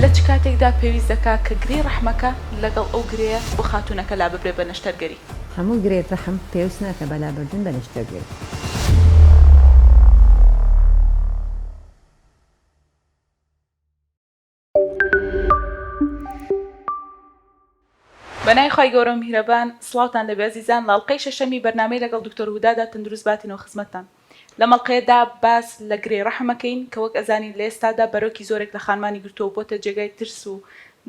لە چ کاتێکدا پێویست دەکات کە گرێی ڕەحمەکە لەگەڵ ئەو گرێیە بۆ خاتوونەکە لاببرێت بە نەشتەرگەری؟ هەموو گرێی ڕەحم پێویست ناکات بە لابردن بە نەشتەرگەری. بەنای خوای گەورەو میهرەبان سڵاوتان لەبێ ئەزیزان لەڵقەی شەشەمی بەرنامەی لەگەڵ دکتۆر هودادا تەندروست باتینەوە خزمەتتان لەمەڵقەیەدا باس لەگرێی ڕەحم ئەکەین کە وەک ئەزانین لەئێستادا بەرۆکی زۆرێک لەخانمانی گرتوەو بۆتە جێگای ترس و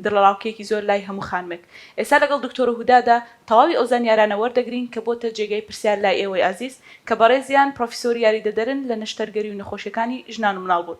دڵەڕاوکێکی زۆر لای هەموو خانمێک ئێستا لەگەڵ دکتۆر هودادا تەواوی ئەوزانیارانە وەردەگرین کە بۆتە جێگای پرسیار لای ئێوەی ئازیز کە بەڕێزیان پڕۆفیسۆری یاریدەدەرن لەنەشتەرگەری و نەخۆشیەکانی ژنان و مناڵ بوون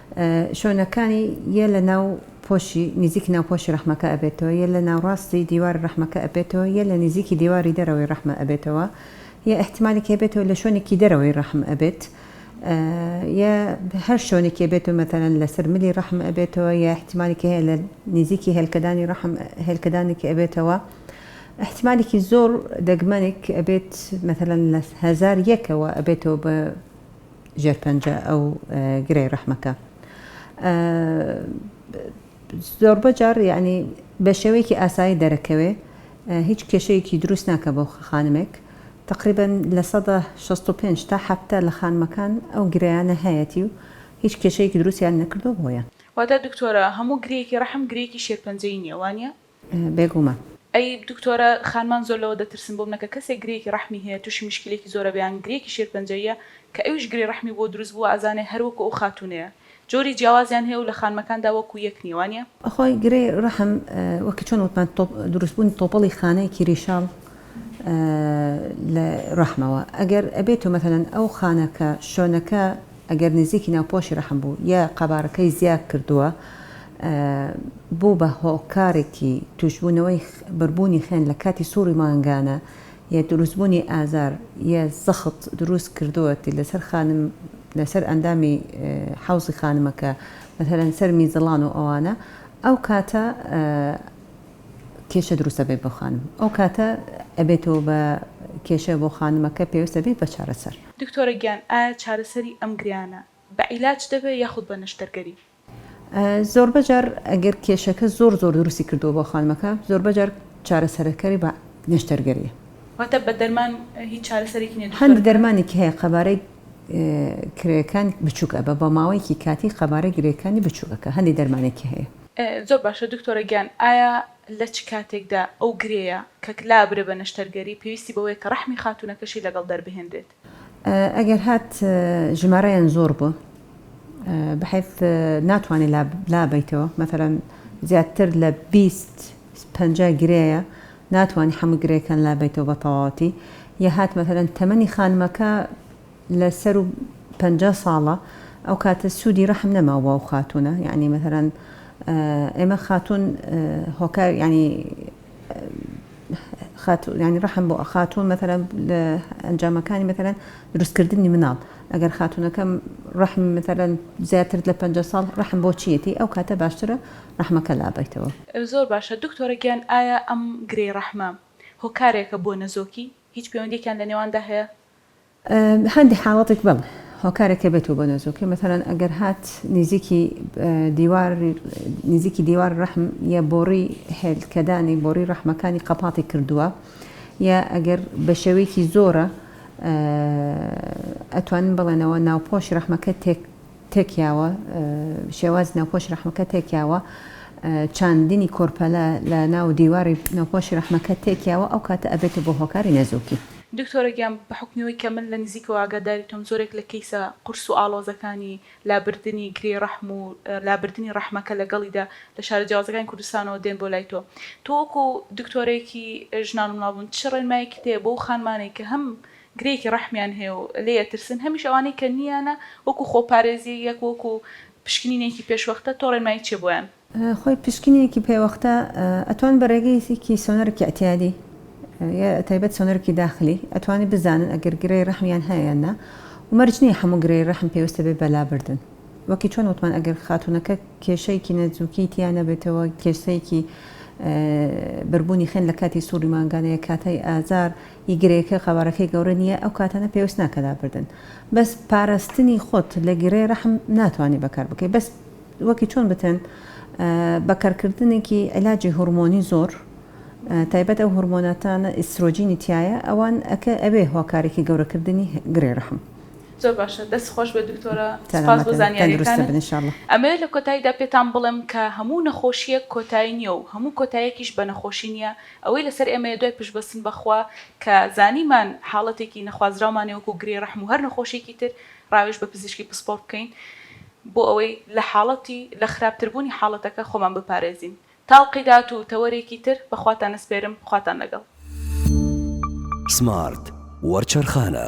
شۆنەکانی یە لە ناو پۆشی نیزیکی ناو پۆشی ڕەحمەکە ئەبێتەوە یە لە ناوڕاستی دیواری ڕەحمەکە ئەبێتەوە یە لە نیزیکی دیواری دەرەوەی ڕەحمە ئەبێتەوە یە ئیحتیمالێکی هەبێتەوە لە شۆنێکی دەرەوەی ڕەحم ئەبێت یە هەر شۆنێکی بێتەوە مەتەلەن لەسەر ملی ڕەحم ئەبێتەوە یە ئیحتیمالێکی هەیە لە نیزیکی هێلکەدانی ڕەحم هێلکەدانێکی ئەبێتەوە ئیحتیمالێکی زۆر دەگمەنێک ئەبێت مەتەلەن لە هەزار یەکەوە ئەبێتەوە بە ژێر پەنجە ئەو گرێ ڕەحمەکە زۆربە جار یعنی بە شێوەیەکی ئاسایی دەرەکەوێ هیچ کێشەیەکی دروست ناکە بۆ خانمێک تقریبا لە 65 تا هەفتە لە خانمەکان ئەو گرەیانە هەیەتی و هیچ کێشەیەکی دروستیان نەکردو بۆیان. واتە دکتۆرە هەموو گرێیەکی ڕەحم گرێیەکی شێرپەنجەیی نیە وانیە؟ بێگوومان. ئەی دکتۆرە خانمان زۆر لەوە دەترسم بۆ منەکە کەسێک گرێیەکی ڕەحمی هەیە توشی مشکیلێکی زۆرەبێ یان گرێیەکی شێرپەنجەییە کە ئەویش گرێ ڕەحمی بۆ دروست بووە ئەزانێ هەر وەکو ئەو خاتونەیە جۆری جیاوازیان هەیە و لە خانمەکاندا وەکو یەک نیە وانیە؟ بەخوای گرێی ڕەحم وەک چۆن وتمان دروست بوونی تۆپەڵی خانەیەکی ریشاڵ لە ڕەحمەوە ئەگەر ئەبێ تۆ مەسەلەن ئەو خانە کە شۆنەکە ئەگەر نزیکی ناوپۆشی ڕەحم بوو یا قەبارەکەی زیاد کردووە بوو بە هۆکارێکی تووشبوونەوەی بەربوونی خوێن لە کاتی سوڕی مانگانە یە دروستبوونی ئازار یە زەخت دروست کردووەتی لەسەر خانم لەسەر ئەندامی حەوزی خانمەکە مەسەلەن سەر میزەڵان و ئەوانە ئەو کاتە کێشە دروست ئەبێت بۆ خانم ئەو کاتە ئەبێتەوە بە کێشە بۆ خانمەکە پێویست ئەبێت بە چارەسەر. دکتۆرە گیان ئایا چارەسەری ئەم گریانە بە عیلاج دەبێت یاخود بە نەشتەرگەری؟ زۆربە جار ئەگەر کێشەکە زۆر زۆر دروستی کردووە بۆ خانمەکە زۆربە جار چارەسەرەکەری بە نەشتەرگەریە. واتە بە دەرمان هیچ چارەسەرێکی نیە دکتۆر؟ هەندێک دەرمانێکی هەیە قەبارەی کرێکان بچوک ئەبە بە ماوەیەکی کاتی قەبارەی گرێکانی بچوک ئەکا هەندێک دەرمانێکی هەیە. زۆر باشە دکتۆرە گیان ئایا لە چ کاتێکدا ئەو گرێیە کە لابرێ بە نەشتەرگەری پێویستی بەوەیە کە ڕەحمی خاتوونەکەشی لەگەڵ دەربهێنرێت؟ ئەگەر هات ژمارەیان زۆر بوو بە حەیف ناتوانێت لابەیتەوە مەثەلەن زیاتر لە بیست پەنجا گرێیە ناتوانانی هەموو گرێکان لابەیتەوە بە تەواوەتی یا هات مەثەلەن تەمەنی خانمەکە لە سەر و پەنجا ساڵە ئەو کاتە سوودی ڕەحم نەماوە بۆ ئەو خاتوونە یانی مەثەلەن ئێمە خاتوون هۆکار یانی خاتوو یانی ڕەحم بۆ خاتوون مەتەلەن لە ئەنجامەکانی مەتەلەن دروستکردنی مناڵ ئەگەر خاتوونەکەم ڕەحم مەتەلەن زیاتر لە پەنجا ساڵ ڕەحم بۆ چیەتی ئەو کاتە باشترە ڕەحمەکە لابەیتەوە. زۆر باشە دکتۆرە گیان ئایا ئەم گرێی ڕەحمە هۆکارێکە بۆ نەزۆکی؟ هیچ پەیوەندیەکیان لەنێواندا هەیە؟ هەندێک حاڵەتێک بەڵێ هۆکارێک کە بێتەوە بۆ نەزۆکێ مەتەلەن ئەگەر هات نیزیکی دیوار نیزیکی دیوار ڕەحم یە بۆڕی هێلکەدانی بۆڕی ڕەحمەکانی قەپاتی کردووە یا ئەگەر بە شێوەیەکی زۆرە ئەتوانن بڵێنەوە ناوپۆش ڕەحمەکە تێک تێکیاوە شێواز ناوپۆش ڕەحمەکە تێکیاوە چاندنی کۆرپەلە لە ناو دیواری ناوپۆشی ڕەحمەکە تێکیاوە ئەو کاتە ئەبێتە بۆ هۆکاری نەزۆکی دکتۆرە گیان بە حوکمی ئەوەی کە من لە نزیکەوە ئاگاداری تۆم زۆرێک لە کەیسە قورس و ئاڵۆزەکانی لابردنی گرێی ڕەحم و لابردنی ڕەحمەکە لەگەڵیدا لە شارە جیاوازەکانی کوردستانەوە دێن بۆ لای تۆ تۆ وەکو دکتۆرەیەکی ژنان و منداڵبوون چ ڕێنمایەکیت هەیە بۆ ئەو خانمانەی کە هەم گرێیەکی ڕەحمیان هەیە و لێی ئەترسن هەمیش ئەوانەی کە نییانە وەکو خۆپارێزی یەک وەکو پشکنینێکی پێشوەختە تۆ ڕێنمایی چیە بۆیان؟ خۆی پشکنینێکی پێوەختە ئەتوان بە رێگەیەکی سۆنەرکی اعتیادی یە تایبەت سۆنەرکی داخلی ئەتوانی بزانن ئەگەر گرێی رەحمیان هەیە یان نا و مەرج نیە هەموو گرێی رەحم پێوستە بێت بە لابردن وەکی چۆن وتمان ئەگەر خاتونەکە کێشەیەکی نەزوکی تیا نەبێتەوە کێسەیەکی بربونی خوێن لە کاتی سوڕی مانگانە یە کاتای ئازار ی گرێکە قەبارەکەی گەورە نیە ئەو کاتانە پێوست ناکە لابردن بەس پارستنی خۆت لە گرێی رەحم ناتوانی بەکار بکەی بەس وەکی چۆن بتێن بە کەرکردنێکی عیلاجی هورمۆنی زۆر تایبەت ئەو هورمۆناتانە ئیسترۆجینی تیایە ئەوان ئەکە ئەوێ هۆکارێکی گەورەکردنی گرێ ڕەحم. زۆر باشە دەست خۆش بێت دکتۆرە سپاس بۆ زانیاریەکانت ئەمەوێت لە کۆتاییدا پێتان بڵێم کە هەموو نەخۆشیەک کۆتایی نیە و هەموو کۆتایەکیش بە نەخۆشی نیە ئەوەی لەسەر ئێمەیە دوای پشت بەستن بە خوا کە زانیمان حاڵەتێکی نەخوازراومانە وەکو گرێی ڕەحم و هەر نەخۆشیەکی تر ڕاوێژ بە پزیشکی پسپۆڕ بکەین بۆ ئەوەی لە حاڵەتی لە خراپتربوونی حاڵەتەکە خۆمان بپارێزین. تاڵقی دات و تەوەرێکی تر بە خواتان ئەسپێرم، خواتان لەگەڵ. سمارت وەرچەرخانە.